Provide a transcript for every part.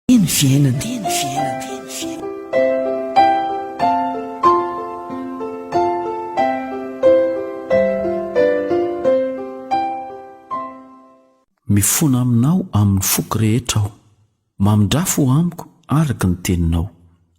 Teny fiainana, teny fiainana, teny fiainana. Mifona aminao amin'ny foko rehetra aho, mamindra fo amiko araka ny teninao.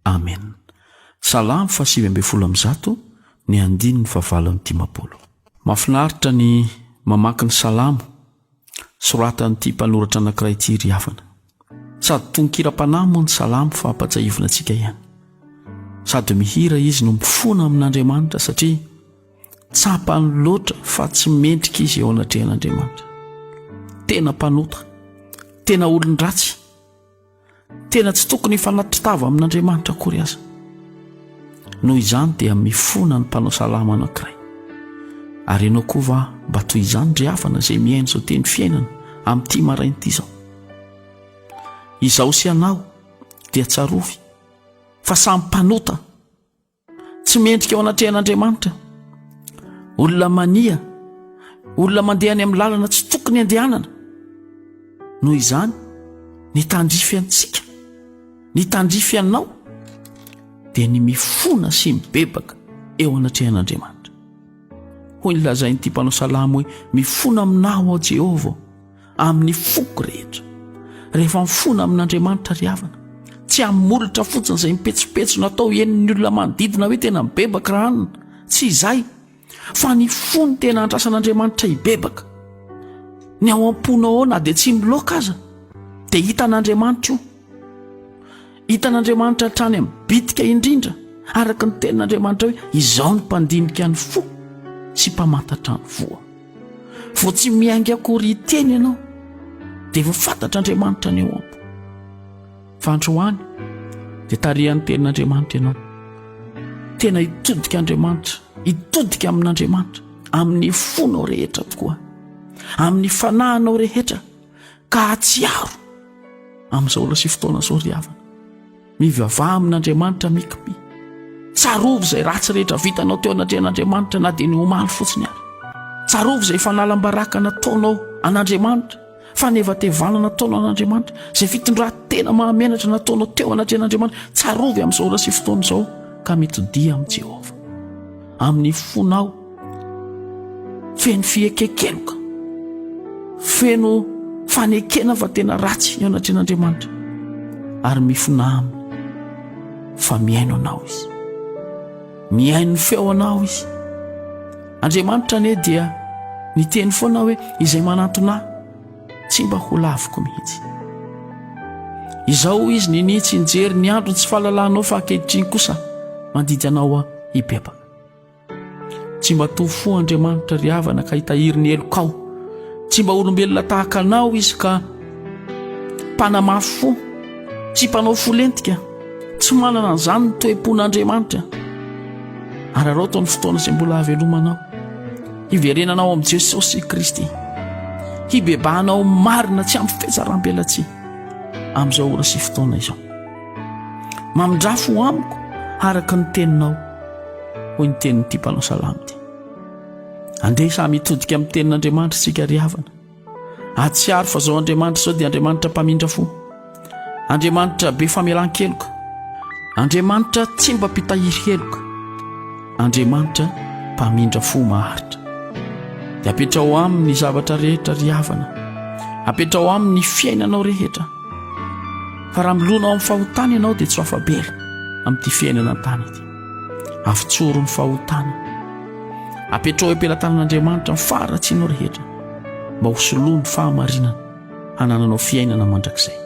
Amen. Salamo faha sivy ambin'ny folo amby zato ny andininy faha valo amby dimampolo. Mafinaritra ny mamaky ny salamo soratan'ity mpanoratra anankiray ity ry havana. Sady tononkiram-panahy moa ny salamo fa ampatsahivina antsika ihany. Sady mihira izy no mifona amin'Andriamanitra satria tsapany loatra fa tsy mendrika izy eo anatrehan'Andriamanitra. Tena mpanota, tena olon-dratsy. Tena tsy tokony hifanatri-tava amin'Andriamanitra akory aza. Noho izany dia mifona ny mpanao salamo anankiray. Ary ianao koa va mba toy izany ry havana izay mihaino izao teny fiainana amin'ity maraina ity izao? Izaho sy ianao dia tsarovy fa samy mpanota. Tsy mendrika ao anatrehan'Andriamanitra. Olona mania, olona mandeha any amin'ny lalana tsy tokony andehanana. Noho izany, ny tandrify antsika, ny tandrify anao, dia ny mifona sy mibebaka eo anatrehan'Andriamanitra. Hoy ny lazain'ity mpanao salamo hoe, mifona aminao ao Jehovah. amin'ny foko rehetra rehefa mifona amin'Andriamanitra ry havana tsy amin'ny molotra fotsiny izay mipetsopetso natao henon'ny olona manodidina hoe tena mibebaka raha anina tsy izay fa ny fony tena andrasan'Andriamanitra hibebaka ny ao am-pona ao na dia tsy miloaka aza dia hitan'Andriamanitra io Hitan'Andriamanitra hatrany amin'ny bitika indrindra, araka ny tenin'Andriamanitra hoe izaho no mpandinika ny fo sy mpamantatra ny voa. Vao tsy miainga akory hiteny ianao, dia efa fantatr'Andriamanitra ny ao ampo. Fa androany, dia tarihan'ny tenin'Andriamanitra ianao. Tena hitodika Andriamanitra, hitodika amin'Andriamanitra, amin'ny fonao rehetra tokoa, amin'ny fanahinao rehetra, ka hahatsiaro amin'izao olona sy fotoana izao ry havana. Mivavaha amin'Andriamanitra mikipy. Tsarovy izay ratsy rehetra vitanao teo anatrehan'Andriamanitra na dia ny omaly fotsiny ary. Tsarovy izay fanalam-baraka nataonao an'Andriamanitra, fanevatevana nataonao an'Andriamanitra, izay fitondran-tena mahamenatra nataonao teo anatrehan'Andriamanitra. Tsarovy amin'izao olona sy fotoana izao ka mitodiha amin'i Jehovah. Amin'ny fonao Feno fiekekenoka, feno fanekena fa tena ratsy ny eo anatrehan'Andriamanitra, ary mifona aminy fa mihaino anao izy, mihaino ny feo anao izy. Andriamanitra anie dia niteny foana hoe izay manantona tsy mba ho laviko mihitsy. Izao izy nini tsy nijery ny andro tsy fahalalanao fa ankehitriny kosa mandidy anao hibebaka. Tsy mba toa fo Andriamanitra ry havana ka hitahiry ny helokao. Tsy mba olombelona tahaka anao izy ka mpanamafy fo, tsy mpanao fo lentika. Tsy manana an'izany ny toe-pon'Andriamanitra. Araraoto ny fotoana izay mbola havelomanao. Hiverenanao amin'i Jesosy Kristy. Hibebahanao marina tsy amin'ny fetsaram-pelatsihy amin'izao ora sy fotoana izao. Mamindrafo ho amiko araka ny teninao, hoy ny tenin'ity mpanao salamo ity. Andeha samy hitodika amin'ny tenin'Andriamanitra isika ry havana. Atsiaro fa izao Andriamanitra izao dia Andriamanitra mpamindrafo. Andriamanitra be famelan-keloka. Andriamanitra tsy mba mpitahiry heloka. Andriamanitra mpamindrafo maharitra. Dia apetrao aminy ny zavatra rehetra ry havana. Apetrao aminy ny fiainanao rehetra. Fa raha milona ao amin'ny fahotana ianao dia tsy ho afa-bela amin'ity fiainana an-tany ity. Avotsoro ny fahotana. Apetraho eo am-pelatanan'Andriamanitra ny faharatsianao rehetra mba ho soloany fahamarinana hanananao fiainana mandrakizay.